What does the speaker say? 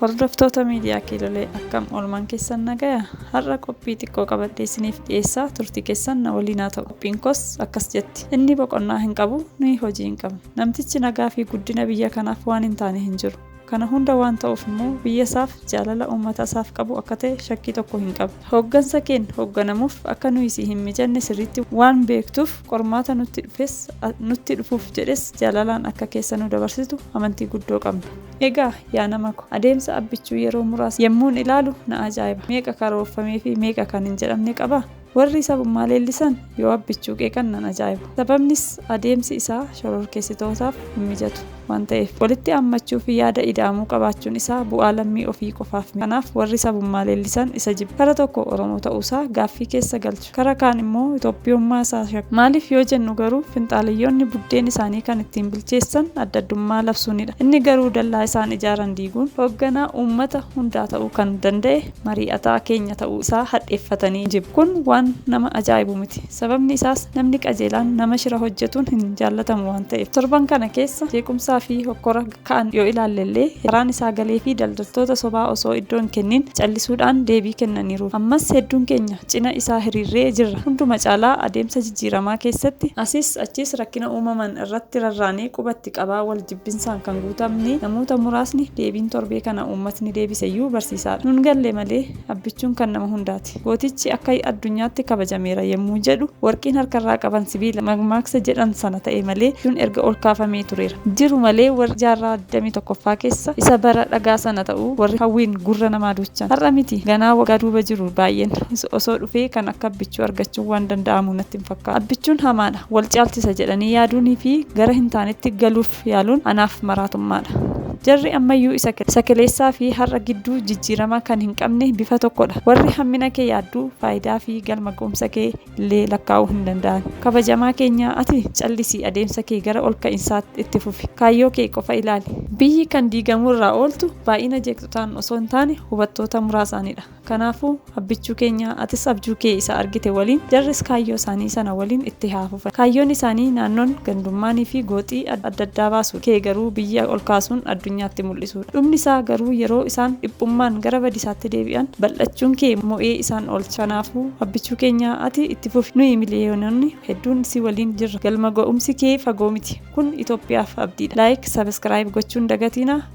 Hordoftoota miidiyaa kiilolee akkam oolmaan keessan nagaya har'a qophii xiqqoo qabadhee isiniif dhiyeessaa turtii keessan na waliin haa ta'u qophiin koos akkas jetti inni boqonnaa hin qabu nuyi hojii hin qabnu namtichi nagaa fi guddina biyya kanaaf waan hin taane hin jiru Kana hunda waan ta'uuf immoo biyyasaaf jaalala uummatasaaf qabu akka ta'e shakkii tokko hin qabu. Hooggansa keen hoogganamuuf akka nuyi si hin mijanne sirriitti waan beektuuf qormaata nutti dhufes nutti dhufuuf jedhes jaalalaan akka keessa nu dabarsitu amantii guddoo qabna. Egaa yaa nama ko, adeemsa Abbichuu yeroo muraasa yemmuun ilaalu na ajaa'iba. Meeqa karoorfameefi meeqa kan hin jedhamne qaba? Warri sabummaa leellisan yoo Abbichuu qeeqan nan ajaa'iba. Sababnis adeemsi isaa shororkeessitootaaf hin mijatu waan ta'eef. Walitti aammachuu fi yaada ida'amuu qabaachuun isaa bu'aa lammii ofii qofaaf miti. Kanaaf warri sabummaa leellisan isa jibbu. Kara tokko Oromoo ta'uu isaa gaaffii keessa galchu. Kara kaan immoo Itoophiyummaa isaa shakku. Maaliif yoo jennu garuu finxaaleyyoonni buddeen isaanii kan ittiin bilcheessan adda addummaa labsuunidha. Inni garuu dallaa isaan ijaaran diiguun hoogganaa uummata hundaa ta'uu kan danda'e mari'ataa keenya ta'uu isaa hadheeffatanii jiru. Kun waan nama ajaa'ibu miti. Sababni isaas namni qajeelaan nama shira hojjetuun hin jaallatamu waan ta'eef. Torban kana keessa jeequmsaa fi hokkora ka'an yoo ilaalle illee carraan isaa galee fi daldaltoota sobaa osoo iddoo hin kenniin callisuudhaan deebii kennaniiru. Ammas hedduun keenya cina isaa hiriirree jirra. Hunduma caalaa adeemsa jijjiiramaa keessatti asis achiis rakkina uumaman irratti rarraanee quba itti. qabaa wal jibbinsaan kan guutamne namoota muraasni deebiin torbee kana uummatni deebiseyyuu barsiisaadha nun galle malee abbichuun kan nama hundaati gootichi akka addunyaatti kabajameera yemmuu jedhu warqiin harkarraa qaban sibiila makmaaksa jedhan sana ta'e malee abjuun erga ol kaafamee tureera jiru malee warri jaarraa 21ffaa keessa isa bara dhagaa sana ta'uu warri hawwiin gurra namaa duuchan har'a miti ganaa waggaa duuba jiru baay'een osoo dhufee kan akka abbichuu argachuun waan danda'amu natti hin fakkaatu abbichuun hamaadha wal caalchisa jedhanii yaaduunii fi gara hin taanetti galuuf yaaluun anaaf maraatummaa dha. Jarri ammayyuu isa isa keleessaa fi har'a gidduu jijjiirama kan hin qabne bifa tokko dha. Warri hammina kee yaaddu faayidaa fi galma ga'umsa kee illee lakkaa'uu hin danda'an. Kabajamaa keenya ati callisii adeemsa kee gara ol ka'insaatti itti fufi. Kaayyoo kee qofa ilaali. Biyyi kan diigamuu irraa ooltu baay'ina jeeqxotaan osoo hin taane hubattoota muraasaan dha. Kanaafuu, abbichuu keenya, atis abjuu kee isa argite waliin, jarris kaayyoo isaanii sana waliin itti haa fufan. Kaayyoon isaanii naannoon, gandummaanii fi gooxii adda addaa baasuudha. Kee garuu biyya ol kaasuun addunyaatti mul'isuudha. Dhumni isaa garuu yeroo isaan dhiphummaan gara badisaatti deebi'an, bal'achuun kee mo'ee isaan oolcha. Kanaafuu, abbichuu keenya, ati itti fufi. Nuyi miliyoononni hedduun si waliin jirra. Galma ga'umsi kee fagoo miti. Kun Itoophiyaaf abdiidha. Like, subscribe gochuun dagatiinaa.